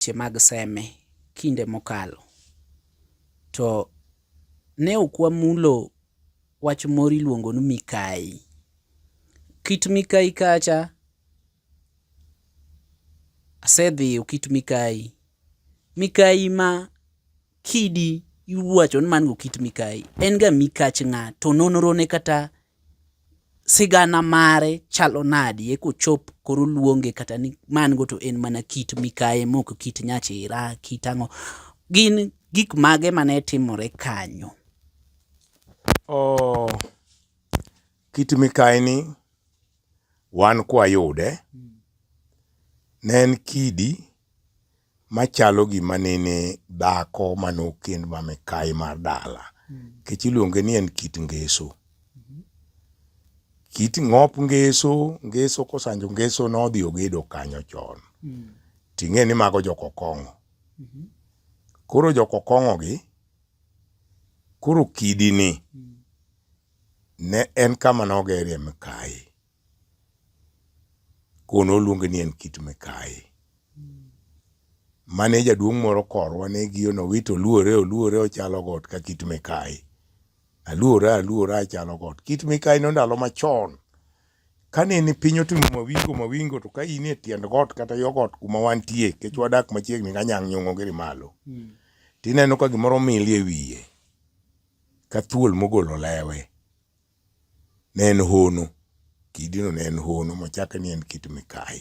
weche mag seme kinde mokalo. To ne ok wamulo wach moro iluongo ni mikai. Kit mikai kacha asedhiyo kit mikai. Mikai ma kidi iwacho ni man go kit mikai en ga mikach ng'a to nonro ne kata sigana mare chalo nadi eka ochop koro luonge kata ni man go to en mana kit mikaye mok kit nyachira kit ang'o gin gik mage mane timore kanyo oh, kit mikaye ni wan kwayude ne en kidi machalo gima nene dhako mane okend ma mikayi mar dala nikech iluonge ni en kit ngeso kit ng'op ngeso ngeso kosanjo ngeso nodhi ogedo kanyo chon ting'e ni mago jokokong'o koro jokokong'o gi koro kidi ni ne en kama nogerie mikayi Kono oluonge ni en kit mikayi. Mane jaduong' moro korwa ne giyo nowito oluore oluore ochalo got ka kit mikayi. Aluora aluora achalo got. Kit mikayi no ndalo machon kane ni piny otimo mawingo mawingo to ka in e tiend got kata yo got kuma wantie kech wadak machiegni ka nyang' nyong'o giri malo. Hmm. Tineno ka gimoro mili e wiye ka thuol mogolo lewe. ne en hono, kidino ne en hono machake ni en kit mikayi.